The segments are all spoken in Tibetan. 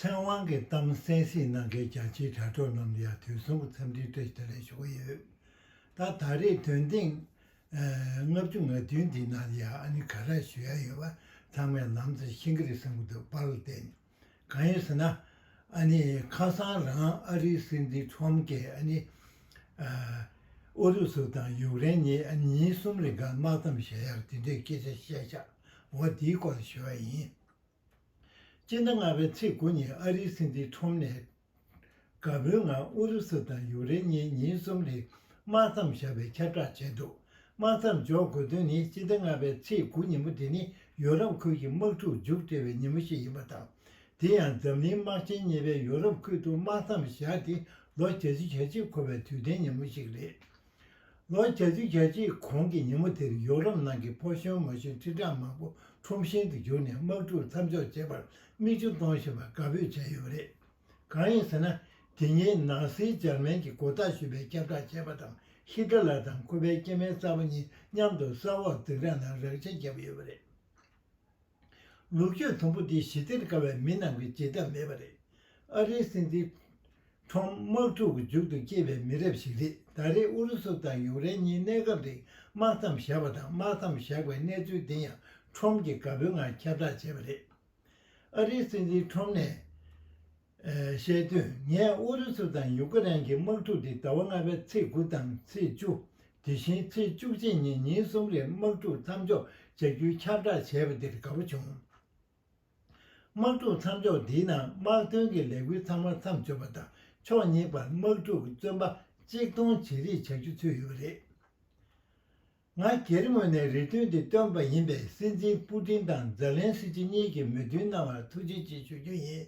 ཚེ་དབང་གི་གཏམ་གསལ་བཤད་གནང་མཁན་རྒྱ་ཆེའི་དྲ་གྲོགས་རྣམས་ལ་ཡང་དུས་གསུམ་གྱི་འཚམས་འདྲིའི་བཀྲ་ཤིས་བདེ་ལེགས་ཞུ་གི་ཡོད། ད་ད་རེས་དོན་ཐེངས་ལྔ་བཅུ་ང་བདུན་འདིའི་ནང་ལ་ཡང་ཨ་ནི་ག་རེ་ཞུ་ཡ་ཡོད་པ་ཚང་མས་ལམ་རྩེར་ཤེས་ཀྱི་རེད་བསམ་གྱི་འདུག་པར་བརྟེན་གང་ཡིན་ཟེར་ན། ཨ་ནི་ཁ་སང་རང་ཨ་རིའི་སྲིད་འཛིན Trump ཀྱིས་ཨ་ནི་ཨུ་རུ་སུ་དང་ཡུག་རེན་གཉིས་ཨ་ནི་ཉིན་གསུམ་རེ་འགའ་དམག་མཚམས་བཞག་ཡ་རེད་དེ་འདྲའི་སྐད་ཆ་བཤད་ཤག་འོ་འདིའི་སྐོར་ལ་ཞུ་བ་ཡིན། སྤྱི་ཟླ་ལྔ་པའི་ཚེས་དགུ་ཉིན་ཨ་རིའི་སྲིད་འཛིན་ཁྲོམ་ནས་དགའ་པོའི་ངང་ཨུ་རུ་སུ་དང་ཡུག་རེན་གཉིས་ཉིན་གསུམ་རིང་དམག་མཚམས་བཞག་པའི་ཁྱབ་བསྒྲགས་བྱས་འདུག་དམག་མཚམས་འཇོག་དགོས་དོན་ནི་སྤྱི་ཟླ་ལྔ་པའི་ཚེས་དགུ་ཉིན་མོ་དེ་ནི་ཡོ་རོབ་ཁུལ་གྱི་དམག་འཁྲུག་མཇུག་སྒྲིལ་བའི་ཉིན་མོ་ཞིག་ཡིན་པ་དང་དེ་ཡང་འཛམ་གླིང་དམག་ཆེན་གཉིས་པའི་ཡོ་རོབ་ཁུལ་དུ་དམག་མཚམས་བཞག་སྟེ་ལོ་གྱ་བཅུ་གྱ་གཅིག་འཁོར་བའི་དུས་དྲན་ཉིན་མོ་ཞིག་རེད། ལོ་གྱ་བཅུ་གྱ་གཅིག་གོང་གི་ཉིན་མོ་དེར་ཡོ་རོབ་ནང་གི་ཕོ་གཞོན་མོ་གཞོན་ཁྲི་ཕྲག་མང་པོ་ཁྲོམ་ཞེང་དུ་བཞུགས་ནས་དམག་འཁྲུག་མཚམས་འཇོག་བྱེད་པར་མིག་ཆུ་གཏོང་བཞིན་པར་དགའ་འབོད་བྱས་ཡོད་པ་རེད། གང་ཡིན་ཟེར་ན་དེ་ཉིན་ནང་སྲིད་འཇར་མན་གྱི་མགོ་བཏགས་ཞུས་པའི་ཁྱབ་བསྒྲགས་བྱས་པ་དང་ཧི་ཏེ་ལར་དང་ཁོ་པའི་སྐྱེས་དམན་གསར་པ་གཉིས་མཉམ་དུ་ས་འོག་འཛིན་གྲྭ་ནང་རགས་ཆ་བརྒྱབ་ཡོད་པ་རེད། ལུག་ཁྱུ་དུམ་བུ་འདི་ཞི་བདེར་དགའ་བའི་མི་རྣམས་ཀྱི་བྱེད་ཐབས་མེད་པ་རེད། ཨ་རིའི་སྲིད་འཛིན། Trump། དམག་འཁྲུག་གི་མཇུག་ཏུ་སྐྱེས་པའི་མི་རབས་ཤིག་རེད་ད་རེས་ཨུ་རུ་སུ་དང་ཡུག་རེན་གཉིས་གནས་སྐབས་རིང་དམག་མཚམས་བཞག་པ་དང་དམག་མཚམས་བཞག་པའི་གནས་ཚུལ་འདི་ཡང Trump གྱིས་དགའ་པོའི་ངང་ཁྱབ་བསྒྲགས་བྱས་པ་རེད། ཨ་རིའི་སྲིད་འཛིན Trump ནས། བཤད་དུས་ངས་ཨུ་རུ་སུ་དང་ཡུག་ཀེ་རན་གྱི་དམག་འཁྲུག་འདི་ཟླ་བ་ལྔ་པའི་ཚེས་དགུ་དང་ཚེས་བཅུ། དེ་བཞིན་ཚེས་བཅུ་གཅིག་གཉིས་ཉིན་གསུམ་རེར་དམག་འཁྲུག་མཚམས་འཇོག་བྱ་རྒྱུའི་ཁྱབ་བསྒྲགས་བྱས་པ་འདིར་དགའ་པོ་བྱུང། དམག་འཁྲུག་མཚམས་འཇོག་འདིའི་ནང་དམག་དོན་གྱི་ལས་འགུལ་ཚང་མ་མཚམས་འཇོག་པ་དང་ཕྱོགས་གཉིས་བར་དམག་འཁྲུག་གི་བཙོན་པ་གཅིག་མཐོང་ཇེ་རིགས་བྱ་རྒྱུ་ཚུད་ཡོད་པ་རེད། ང་སྒེར་ངོས་ནས་རེ་འདུན་འདི་བཏོན་པ་ཡིན་པས་སྲིད་འཛིན་པུ་ཏིན་དང་ཛེ་ལན་སི་ཀྱི་གཉིས་ཀྱིས་མོས་མཐུན་གནང་བར་ཐུགས་རྗེ་ཆེ་ཞུ་རྒྱུ་ཡིན།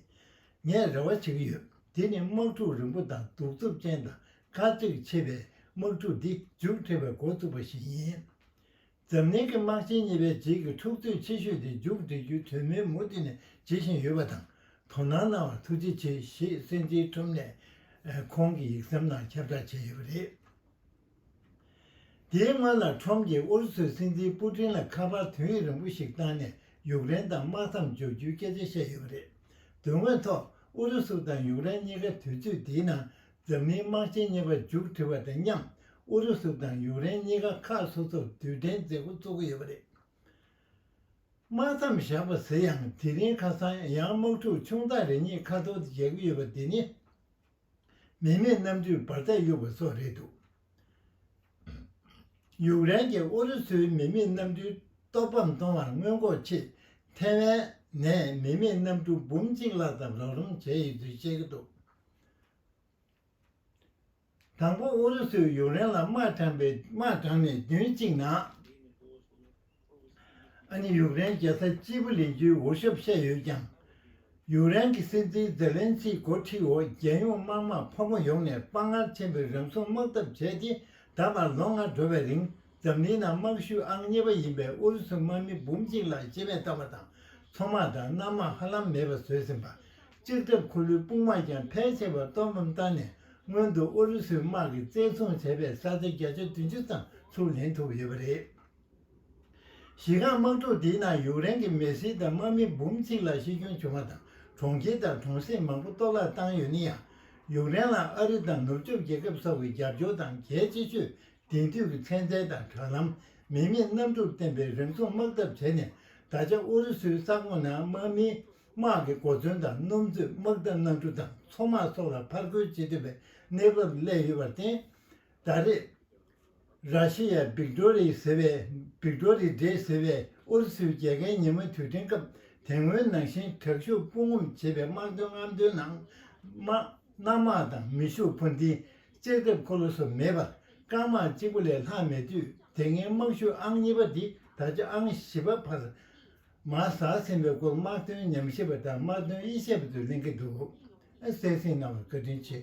ངས་རེ་བ་བྱེད་ཀྱི་ཡོད་དེ་ནི་དམག་འཁྲུག་རིང་པོ་དང་གདུག་རྩུབ་ཅན་དང་དཀའ་ཚེགས་ཆེ་བའི་དམག་འཁྲུག་འདི་མཇུག་འཕྲད་པའི་འགོ་བཙུགས་པ་ཞིག་ཡིན། འཛམ་གླིང་གི་དམག་ཆེན་གཉིས་པའི་རྗེས་ཀྱི་འཁྲུག་རྩོད་ཆེ་ཤོས་དེ་མཇུག་འགྲིལ་རྒྱུའི་དོན་སྨོན་མུ་མཐུད་ནས་བྱེད་བཞིན་ཡོད་པ་དང་དོ་སྣང་གནང་བར་ཐུགས་རྗེ་ཆེ་ཞེས་སྲིད་འཛིན་ཁྲོམ་ནེས་ཁོང་གི་ཡིག་ཟམ་ནང་ཁྱབ་བསྒྲགས་བྱས་ཡོད་པ་རེད། དེའི་སྔོན་ལ་ཁྲོམ་གྱིས་ཨུ་རུ་སུའི་སྲིད་འཛིན་པུ་ཀྲིན་ལ་ཁ་པར་དོན་ཡིག་རིང་པོ་ཞིག་བཏང་ནས་ཡུཀ་རེན་དང་དམག་མཚམས་འཇོག་རྒྱུའི་སྐད་ཆ་བཤད་ཡོད་པ་རེད། དོན་དངོས་ཐོག་ཨུ་རུ་སུ་དང་ཡུཀ་རེན་གཉིས་ཀ་དུས་ཚོད་དེའི་ནང་འཛམ་གླིང་དམག་ཆེན་གཉིས་པ་མཇུག་འགྲིལ་བ་དང་མཉམ་ཨུ་རུ་སུ་དང་ཡུཀ་རེན་གཉིས་ཀ་ཁག་སོ་སོར་དུས་དྲན་མཛད་སྒོ་བཙུགས་ཀྱི་ཡོད་པ་རེད། དམག་མཚམས་བཞག་པ་ཟེར་ཡང་དེ་རིང་ཁ་སང་ཡང་དམག་འཁྲུག་ཆུང་ཙག་རེ་གཉིས་ཁ་ཐོར་དུ་བཞག་གི་ཡོད་པ་དེ་ནི། མི་མེད་གནམ་གྲུས་འབར་རྫས་གཡུགས་པ་སོགས་རེད་འདུག་ཡུཀ་རེན་གྱིས་ཨུ་རུ་སུའི་མི་མེད་གནམ་གྲུའི་གཏོར་ཕམ་གཏོང་བར་སྔོན་འགོག་ཆེད་ཐེ་ཝན་ནས་མི་མེད་གནམ་གྲུ་འབུམ་གཅིག་ལྷག་ཙམ་རོགས་རམ་བྱས་ཡོད་ཚུལ་བཤད་ཀྱི་འདུག་དང་པོ་ཨུ་རུ་སུས་ཡུཀ་རེན་ལ་དམག་དྲངས་པའི་དམག་དྲངས་ནས་བདུན་གཅིག་ནང། ཨ་ནི་ཡུཀ་རེན་རྒྱལ་ས་ཅི་བུ་ལེན་རྒྱུའི་འོས་ཞབས་བཤད་ཡོད་ཀྱང། ཡུཀ་རེན་གྱི་སྲིད་འཛིན་ཛེ་ལན་སི་མགོ་ཁྲིད་འོག་རྒྱལ་ཡོངས་དམར་དམག་ཕོ་མོ་ཡོངས་ནས་དཔའ་ངར་ཆེན་པོས་རང་སྲུང་དམག་འཐབ་བྱས་ཏེ་ད་བར་ལོ་ལྔ་འགྲོ་བའི་རིང་འཛམ་གླིང་ནང་དམག་ཤུགས་ཨང་གཉིས་པ་ཡིན་པའི་ཨུ་རུ་སུ་དམག་མི་འབུམ་གཅིག་ལྷག་ཤི་རྨས་བཏང་བ་དང་མཚོ་དམག་དང་གནམ་དམག་ཧ་ལམ་མེད་པར་བཟོས་ཟིན་པ། སྤྱིར་འཐབ་འཁོར་ལོའི་དཔུང་དམག་ཀྱང་ཕལ་ཆེ་བ་གཏོར་འབུམ་བཏང་ནས་སྔོན་དུ་ཨུ་རུ་སུའི་དམག་གིས་བཙན་བཟུང་བྱས་པའི་ས་ཆ་བརྒྱ་ཆ་བདུན་ཅུ་ཙམ་ཚུར་ལེན་ཐུབ་ཡོད་པ་རེད། གཞི་རྐང་དམག་འཁྲུག་དེའི་ནང་ཡུག་རེན་གྱི་མེ་སིལ་དང་དམག་མི་འབུམ་གཅིག་ལ་ཤི་སྐྱོན་བྱུང་བ་དང་གྲོང་ཁྱེར་དང་གྲོང་གསེབ་མང་པོ་གཏོར་བརླག་བཏང་ཡོད་ནི་ཡང། ཡུག་རེན་ལ་ཨ་རི་དང་ནུབ་ཕྱོགས་རྒྱལ་ཁབ་སོགས་ཀྱི་རྒྱབ་སྐྱོར་དང་གལ་ཆེ་ཤོས་དེང་དུས་ཀྱི་ཚན་རྩལ་དང་དྲ་ལམ། མི་མེད་གནམ་གྲུར་བརྟེན་པའི་རིམ་མཚུངས་དམག་འཐབ་བྱས་ནས་ད་ཆ་ཨུ་རུ་སུའི་ས་ཁོངས་ནང་དམག་མིའི་དམག་གི་གོ་མཚོན་དང་སྣུམ་མཛོད་དམག་འཐབ་གནམ་གྲུ་དང་མཚོ་དམག་སོགས་ལ་ཕར་རྒོལ་བྱེད་ཐུབ་པའི་གནས་བབ་སླེབས་ཡོད་པར་བརྟེན། ད་རེས། ར་ཤི་ཡའི་བིག་ཏོ་རི་ཟེར་བའི Victory Day ཟེར་བའི་ཨུ་རུ་སུའི་རྒྱལ་ཁའི་ཉིན་མོ་དུས་དྲན་སྐབས་དེ་སྔོན་ནང་བཞིན་དྲག་ཤུགས་དཔུང་ངོམ་བྱེད་པའི་དམག་དོན་རྔམ་སྟོན་ནང། དམག་གནམ་དམག་དང་མི་ཤུགས་འཕུར་མདེལ་ལྕགས་ཐེབས་འཁོར་ལོ་སོགས་མེད་པར་རྐང་དམག་གཅིག་པོ་ལས་ལྷག་མེད་དུས་དེ་སྔའི་དམག་ཤུགས་ཨང་གཉིས་པ་འདི་ད་ཆ་ཨང་བཞི་པ་བར་མ་ཟགས་ཟིན་པའི་སྐོར་དམག་དོན་ཉམས་ཞིབ་པ་དང་དམག་དོན་དབྱེ་ཞིབ་པ་ཚོས་གླེང་གི་འདུག་གསལ་བསྲིང་གནང་བར་བཀའ་དྲིན་ཆེ།